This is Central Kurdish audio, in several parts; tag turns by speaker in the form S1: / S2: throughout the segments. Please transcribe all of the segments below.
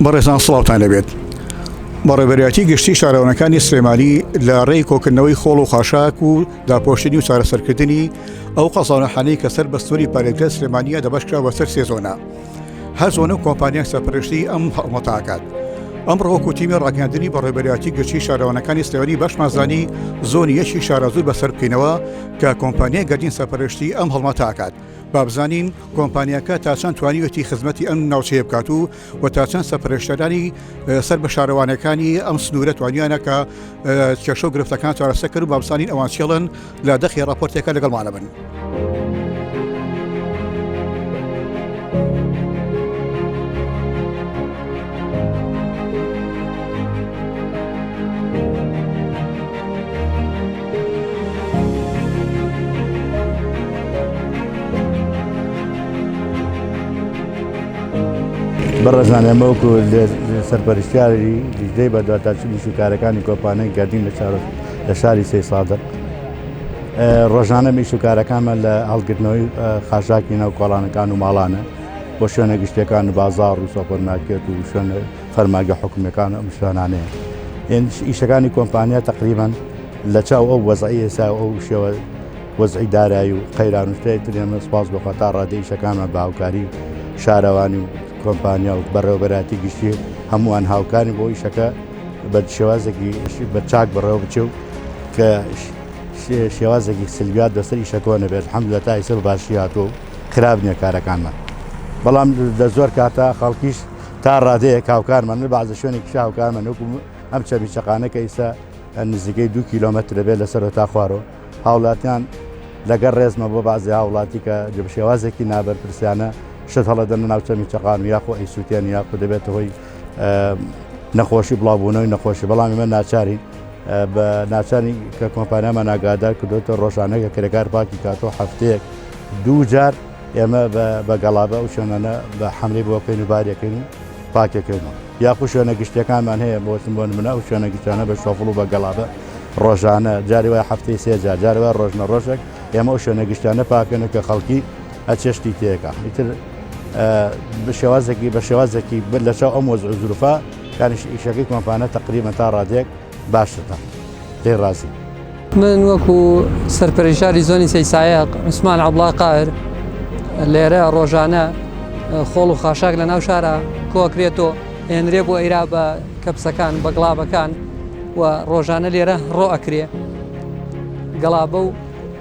S1: بەڕێزان سڵاوتان لەبێت بەڕێبەرایەتی گشتی شارەوانەکانی سلێمانی لە ڕێی کۆکردنەوەی خۆڵ و خاشاک و داپۆشتنی و چارەسەرکردنی ئەو قەزانەحانەی کە سەر بەستوری پارێزگە سلێمانە دەبشکرا بە سەر سێزۆنە هەر زۆنە کۆمپانیان سەرپەرشتی ئەم هەڵمەتاکات ئەم ڕۆکو تیمی ڕاگەاندنی بە ڕێبەرایەتی گەچی شارەوانەکانی سلێوانی بەشمازانی زۆنی یەکی شارەزوور بەسەر بکەینەوە کە کۆمپانیای گەردین سەرپەرشتی ئەم هەڵمەتاکات بابزانین کۆمپانیاکە تا چەند توانیوێتی خزمەتی ئەم ناوچەیە بکات و و تا چەند سەپەرشتەرانی سەر بە شارەوانەکانی ئەم سنوورە توانیانە کە کێشە و گرفتەکان چارەسە کرد و بابسانین ئەوان چێڵن لە دەخی راپۆرتێکە لەگەڵمانە بن.
S2: بەڕێزان ئێمە وەکو سەرپەرشتیاری لیژنەی بەدواداچوونی شوکارەکانی کۆمپانیای گەردین لە چارۆ لە شاری سەی سادق ڕۆژانە میش و کارەکانمان لە هەڵگرتنەوەی خاشاکی ناو کۆڵانەکان و ماڵانە بۆ شوێنە گشتەکان و بازار و سۆپەرمارکێت و شوێنە فەرمانگە حکومیەکان و ئەم شوێنانەیە ئێنش ئیشەکانی کۆمپانیا تقریبان لە چاو ئەو وەزعی ئێسا ئەو شێوە وەزعی دارایی و قەیرانوشتەیە ترێمە سپاس بۆ خەتا ڕادێشەکانمان باوکاری شارەوانی و کۆمپانیا و بەڕێوبەراتی گشتی هەمووان هاوکاری بۆ ئیشەکە بە شێوازێکی بە چاک بەڕێوە بچێ و کە شێوازێکی سلویات بەسەر ئیشەکۆ نەبێت حەم لە تا ئیسە باشی هاتووە و خراپ نیە کارەکانمان بەڵام دە زۆر کاتە خەڵکیش تا ڕادەیەک هاوکارمە من بەعزە شوێنێک پیش هاوکارمە نوکو ئەم چەبی چقانە کە ئیستا نزیکەی دو کیلومتر دەبێت لەسەر تا خوارۆ هاوڵاتیان لەگەر ڕێزمە بۆ بازی هاوڵاتی کە جبشێوازێکی نابەر پرسیانە شت هەڵەدەن ناوچەمی چقان و یاخۆ ئەیسووتێن یاخو دەبێت هۆی نەخۆشی بڵاوبوونەوەی نەخۆشی بەڵامی من ناچاری بە ناچاری کە کۆمپانیامان ناگادار کردوتە ڕۆژانەکە کرێکار پاکی کاتۆ هەفتەیەک دوو جار ئێمە بە گەڵابە و شوێنانە بە حەملی بۆ بکەین و بارێکن و پاکەکەینەوە یاخو شوێنە گشتەکانمان هەیە بۆچم بۆن منە و شوێنە گشتانە بە شۆفڵ و بە گەڵابە ڕۆژانە جاری وای هەفتەی سێجا جارەوە ڕۆژنە ڕۆژێک ئێمە و شوێنە گشتانە پاکەن و کە خەڵکی ئەچێشتی تێکە ئیتر بە شێوازێکی بە شێوازێکی بر لە چاو ئەم وەز زروفە کاریش ئیشەکەی کۆمپانە تقریبە تا ڕادێک باشە تا دەی ڕازی. من وەکو
S3: سەرپەرشداری زۆنی سەی سایەق عوسمان عەبڵا قاهر لێرە ڕۆژانە خۆڵ و خاشاک لە ناو شارە کۆکرێت و ئێنرێ بۆ ئێرا بە کەپسەکان بە گڵابەکان و ڕۆژانە لێرە ڕۆ ئەکرێ گەڵابە و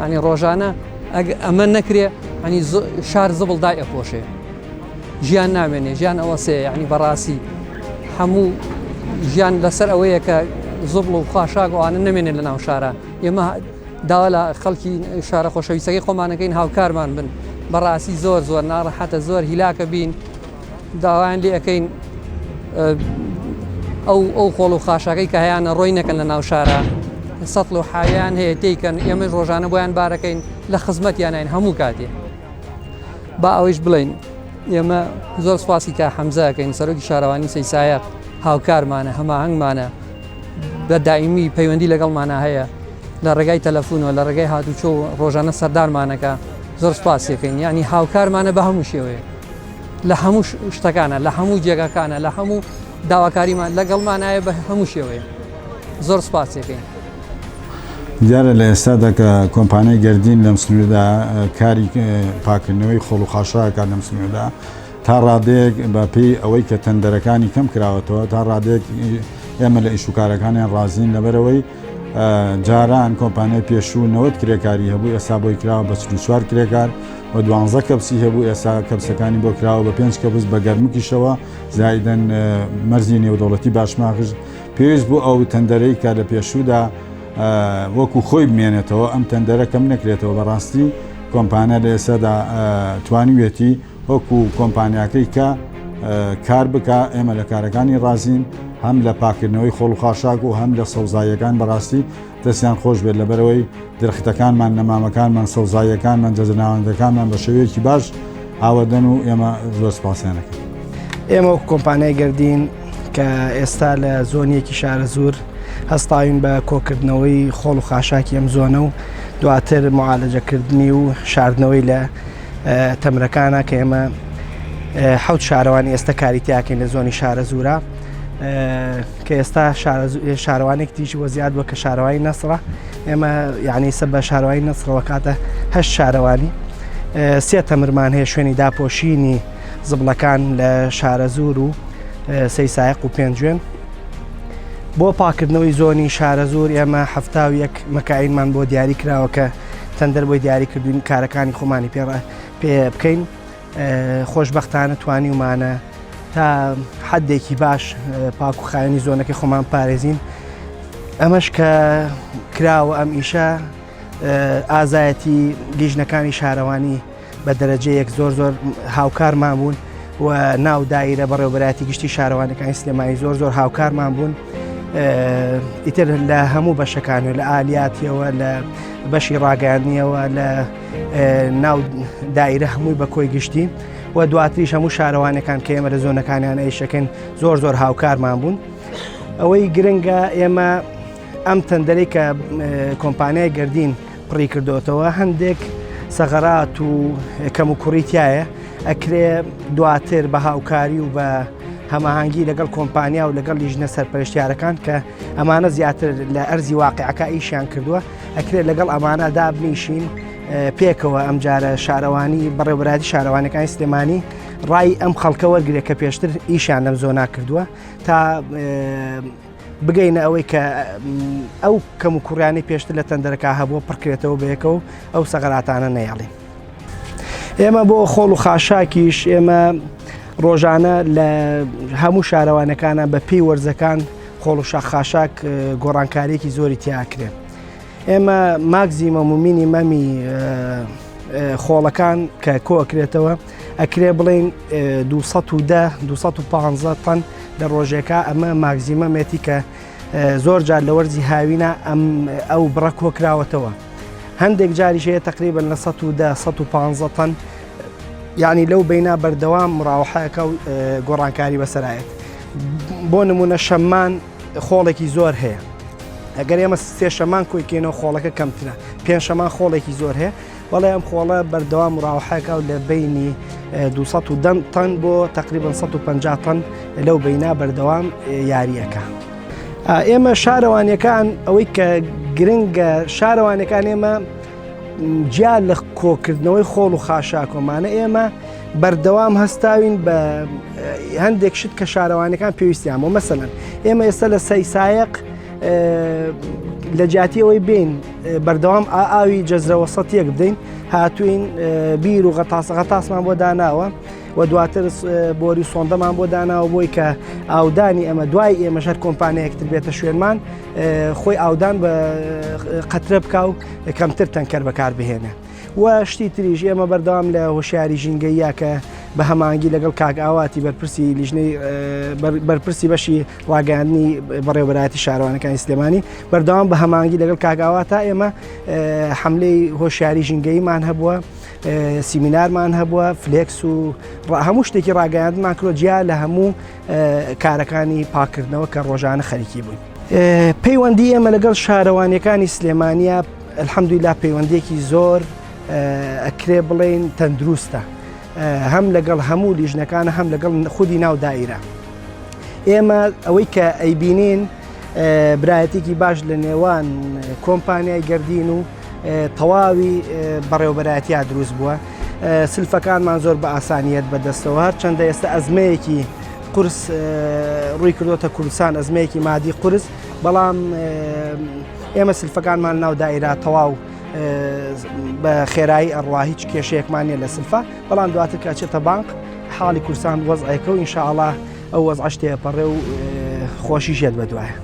S3: ینی ڕۆژانە ئەگ ئەمە نەکرێ ئەنی شار زبڵ دای ئەپۆشێ ژیان نامێنێ ژیان ئەوە سێ ینی بەڕاستی هەموو ژیان لەسەر ئەوەیە کە زبڵ و خوشاک ئەوانە نمێنێت لە ناو شارە ئێمە داوا لە خەڵکی شارە خۆشەویستەکەی خۆمانەکەین هاوکارمان بن بەڕاستی زۆر زۆر ناڕەحەتە زۆر هیلاکە بین داوایان لێ ئەکەین ئەو ئەو خۆڵ و خاشاکەی کە هەیەیان ڕۆی نەکەن لە ناو شارە سەتڵ و حاویان هەیە تێکەن ئێمەش ڕۆژانە بۆیان بارەکەین لە خزمەتیانین هەموو کاتێ با ئەوەیش بڵین ئێمە زۆر سپاسی کا حەمزەکەین سەرۆکی شارەوانی سەیسایە هاوکارمانە هەماهنگمانە بە دایمی پەیوەندی لەگەڵمانە هەیە لە ڕێگای تەلەفونەوە لە ڕێگای هاتوچۆ ڕۆژانە سەردارمانەکە زۆر سپاسیەکەین ینی هاوکارمانە بە هەموو شێوەیە لە هەموو شتەکانە لە هەموو جێگاکانە لە هەموو داواکاریمان لەگەڵمانایە بە هەموو شێوەیە زۆر سپاسێکەین.
S4: دیارە لە ئێستادا کە کۆمپانیای گەردین لەم سنووردا کاری پاکردنەوەی خۆڵ و خاشاکات لەم سنووردا تا ڕادەیەک بە پێی ئەوەی کە تەندەرەکانی کەم کراوەتەوە تا ڕادێک ئێمە لە ئیشوکارەکانیان ڕازین لەبەرەوەی جاران کۆمپانیای پێشوو نەوەد کرێکاری هەبوو ئێسا بۆی کراوە بە چل و چوار کرێکار و دوانزە کەپسی هەبوو ئێسا کەپسەکانی بۆ کراوە بە پێنج کەپس بە گەرمکیشەوە زایدەن مەرزی نێودەوڵەتی باشماخش پێویست بوو ئەو تەندەرەی کە لە پێشوودا وەکو خۆی بمێنێتەوە ئەم تەندەرە کەم نەکرێتەوە بەڕاستی کۆمپانیا لە ئێسادا توانیوێتی وەکو کۆمپانیاکەی کە کار بکا ئێمە لە کارەکانی ڕازین هەم لە پاکردنەوەی خۆڵ و خاشاک و هەم لە سەوزاییەکان بەڕاستی دەستیان خۆش بێت لەبەرەوەی درختەکانمان نەمامەکانمان سەوزاییەکانمان جەجەناوەندەکانمان بە شێوەیەکی باش ئاوەدەن و ئێمە زۆر سپاسیانەکەن ئێمە وەک
S5: کۆمپانیای گردین کە ئێستا لە زۆنیەکی شارە زۆر هەستاوین بە کۆکردنەوەی خۆڵ و خاشاکی ئەم زۆنە و دواتر معالەجەکردنی و شاردنەوەی لە تەمرەکانە کە ئێمە حوت شارەوانی ئێستا کاری تیاکەین لە زۆنی شارە زورە کە ئێستا شارەوانێک تیژی وەزیاد بە کە شارەوانی نەسرە ئێمە یعنی سە بە شارەوانی نەسرەوە کاتە هەشت شارەوانی سێ تەمرمان هەیە شوێنی داپۆشینی زبلەکان لە شارە زور و سەی سایق و پێنجوێن بۆ پاکردنەوەی زۆنی شارە زور ئێمە هەفتا و یەک مەکاینمان بۆ دیاری کراوەکە تەندەر بۆی دیاری کردوین کارەکانی خۆمانی پێڕ پێ بکەین خۆشببختانە توانیومانە تا حدێکی باش پاک و خاوێنی زۆنەکە خۆمان پارێزین ئەمەش کە کراوە ئەم ئیشە ئازایەتی لیژنەکانی شارەوانی بە دەرەجەیەک زۆر زۆر هاوکارمان بوون و ناو دایرە بەڕێوبەراتی گشتی شارەوانەکانی سلێمانی زۆر زۆر هاوکارمان بوون. ئیتر لە هەموو بەشەکان و لە ئالیاتیەوە لە بەشی ڕاگەاندنیەوە لە ناو دایرە هەمووی بە کۆی گشتی و دواتریش هەموو شارەوانەکان کە ئێمە لە زۆنەکانیان ئەیشەکەن زۆر زۆر هاوکارمان بوون ئەوەی گرنگە ئێمە ئەم تەندەری کە کۆمپانیای گردین پڕی کردۆتەوە هەندێک سەغەرات و کەم و کوڕی تایە ئەکرێ دواتر بە هاوکاری و بە هەماهنگگی لەگەڵ کۆمپانیا و لەگەڵ لیژنە سەرپەرشتیارەکان کە ئەمانە زیاتر لە ئەرزی واقعەکە ئیشیان کردووە ئەکرێت لەگەڵ ئەمانە دابنیشین پێکەوە ئەم جارە شارەوانی بەڕێوەبراتی شارەوانەکانی سلێمانی ڕای ئەم خەڵکە وەرگێ کە پێشتر ئیشیان لەم زۆنا کردووە تا بگەینە ئەوەی کە ئەو کەم و کوڕیانی پێشتر لە تەندەرەکە هەبووە پڕکرێتەوە بەیەکە و ئەو سەغراتانە نەیاڵین ئێمە بۆ خۆڵ و خاشاکیش ئێمە ڕۆژانە لە هەموو شارەوانەکانە بە پێی وەرزەکان خۆڵ و شاخاشاک گۆڕانکاریەکی زۆری تیاکرێن ئێمە ماکزیمە مومینی مەمی خۆڵەکان کە کۆکرێتەوە ئەکرێ بڵین 250 تەن لە ڕۆژێکە ئەمە ماگزیمەمێتی کە زۆر جار لە وەرزی هاوینە ئەم ئەو بڕە کۆکراوەتەوە هەندێک جاریشەیە تقریبن لە 1950 تەن یعنی لەو بینا بەردەوام مراوحەکە و گۆڕانکاری بەسەرایەت بۆ نمونە شەممان خۆڵێکی زۆر هەیە ئەگەر ئێمە سێ شەمان کۆیکێنەوە خۆڵەکە کەمترە پێنج شەمان خۆڵێکی زۆر هەیە بەڵێ ئەم خۆڵە بەردەوام ڕاوحەکە و لە بینی 210 تەن بۆ تقریبان 150 تەن لەو بینا بەردەوام یاریەکە. ئێمە شارەوانەکان ئەوەی کە گرنگە شارەوانەکان ئێمە جیا لە کۆکردنەوەی خۆڵ و خاشاکۆمانە ئێمە بەردەوام هەستاوین بە هەندێک شت کە شارەوانەکان پێویستیان بۆ مەسەن ئێمە ئێستا لە سەی سایق لە جاتیەوەی بین بەردەوام ئا ئاوی جەزرە وەسەت یەک بدەین هاتوین بیر و غەتاس غەتاسمان بۆ داناوە و دواتر بۆری سۆندەمان بۆ داناوە بۆی کە ئاودانی ئەمە دوای ئێمە ژەر کۆمپانیەکتر بێتە شوێنمان خۆی ئاودان بە قەترە بکە و کەمتر تەنکەر بەکار بهێنە. و شتی تریژ ئێمە بەردەوام لە هۆشیاری ژینگەیە کە بە هەمانگی لەگەڵ کاک ئاواتی بەرپرسی لیژنەی بەرپرسی بەشی ڕاگەیاندنی بەڕێوەبەرایەتی شارەوانەکانی سلێمانی بەردەوام بە هەمانگی لەگەڵ کاگاوا تا ئێمە حملەی هۆشیاری ژینگەیمان هەبووە سیمینارمان هەبووە فلکس و هەموو شتێکی ڕاگەیاندمان کرۆ جیا لە هەموو کارەکانی پاکردنەوە کە ڕۆژانە خەریکی بووین پەیوەندی ئێمە لەگەڵ شارەوانەکانی سلێمانیا الحەمدویلا پەیوەندێکی زۆر ئەکرێ بڵێن تەندروستە هەم لەگەڵ هەموو لیژنەکان هەم لەگەڵ خودی ناو دایرە ئێمە ئەوەی کە ئەیبینین برایەتێکی باش لە نێوان کۆمپانیای گردین و تەواوی بەڕێوبەرایەتیا دروست بووە سلفەکانمان زۆر بە ئاسانیت بەدەستەوە هەر چەندە ئێستا ئەزمەیەکی قرس ڕووی کردوتە کوردستان ئەزمەیەکی مادی قرس بەڵام ئێمە سلفەکانمان ناو دایرا تەواو بە خێرایی ئەڕوا هیچ کێشەیەکمانە لە سلفە بەڵام دواتر کە ئەچێتە بانق حاڵی کورسان وەزعەکە و ئینشاءڵا ئەو وەزعش تێپەڕێ و خۆشی ژێت بە دوایە.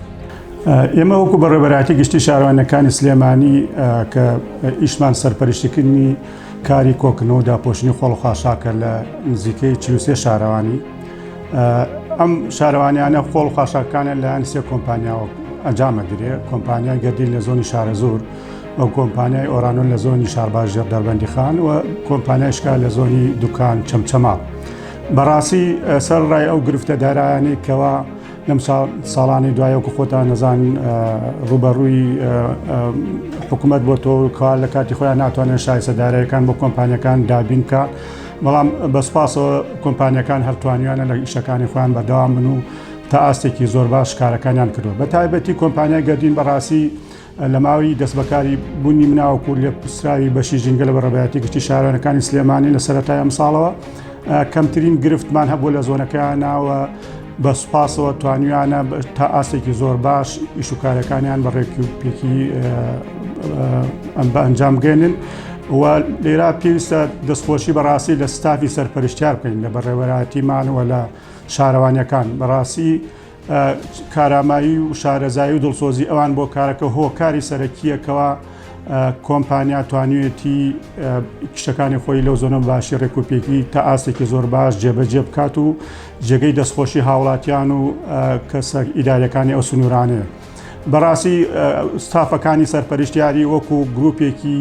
S5: ئێمە
S6: وەکو بەڕێبەراتی گشتی شارەوانەکانی سلێمانی کە ئیشمان سەرپەرشتکردنی کاری کۆکنەوە داپۆشنی خۆڵخواشاکە لە نزیکەی چلوسێ شارەوانی ئەم شارەوانیانە خۆڵ خواشاکانە لەیان سێ کۆمپانیاوە ئەنجامە درێ کۆمپانیای گەردی لە زۆنی شارە زۆر ئەو کۆمپانیای ئۆرانۆن لە زۆنی شارباش ژێر دەربەندیخان و کۆمپانیایشکا لە زۆنی دوکان چەمچەما بەڕاستی سەر ڕای ئەو گرفتە دارایانی کەوا لەم ساڵانی دوایەکو خۆتان نەزان ڕوبەڕووی حکوومەت بۆ تۆ کار لە کاتی خۆیان ناتوانێت شایسە دارایەکان بۆ کۆمپانیەکان دابین کە بەڵام بەسپاسەوە کۆمپانیەکان هەرتوانیانە لە ئیشەکانی خۆیان بەدەوام بن و تا ئاستێکی زۆر باش کارەکانیان کردو بە تایبەتی کۆمپانیای گەردین بەڕاستی لە ماوەی دەستبەکاری بوونی مناوەکو لێپرسراوی بەشی ژینگە لە بەڕێبەیاتی گشتی شارەوانەکانی سلێمانی لە سەرەتای ئەمساڵەوە کەمترین گرفتمان هەبوو لە زۆنەکەیان ناوە بە سوپاسەوە توانیانە تا ئاستێکی زۆر باش ئیش و کارەکانیان بە ڕێکی و پێکی ئەم بە ئەنجام گەێنن و لێرا پێویستە دەستخۆشی بەڕاستی لە ستافی سەرپەرشتیار بکەین لە بەڕێوەراتی مانەوە لە شارەوانیەکان بەڕاستی کارامایی و شارەزایی و دڵسۆزی ئەوان بۆ کارەکە هۆکاری سەرەکیە کەوا کۆمپانیا توانیوێتی کشەکانی خۆی لەو زۆنە باشی ڕێکوپێکی تا ئاستێکی زۆر باش جێبەجێ بکات و جێگەی دەستخۆشی هاوڵاتیان و کەسە ئیدارەکانی ئەو سنوورانەیە بەڕاستی ستافەکانی سەرپەرشتیاری وەکو گرروپێکی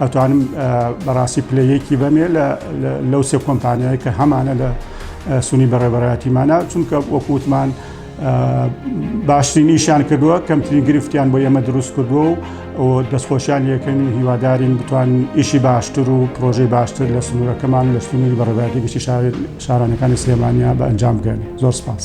S6: ئەتوانم بەڕاستی پلەیەکی بەمێ لەو سێ کۆمپانیای کە هەمانە لە سونی بەڕێبەرایەتیمانە چونکە وەکووتمان باشترینیشان کردووە کەمترین گرفتیان بۆ ئێمە دروست کردووە و دەستخۆشیان یەکەن و هیوادارین بتوان ئیشی باشتر و پرۆژەی باشتر لە سنوورەکەمان لە سنووری بەڕێبەتی گشتی شارانەکانی سلێمانیا بە ئەنجام بگەن زۆر سپاس.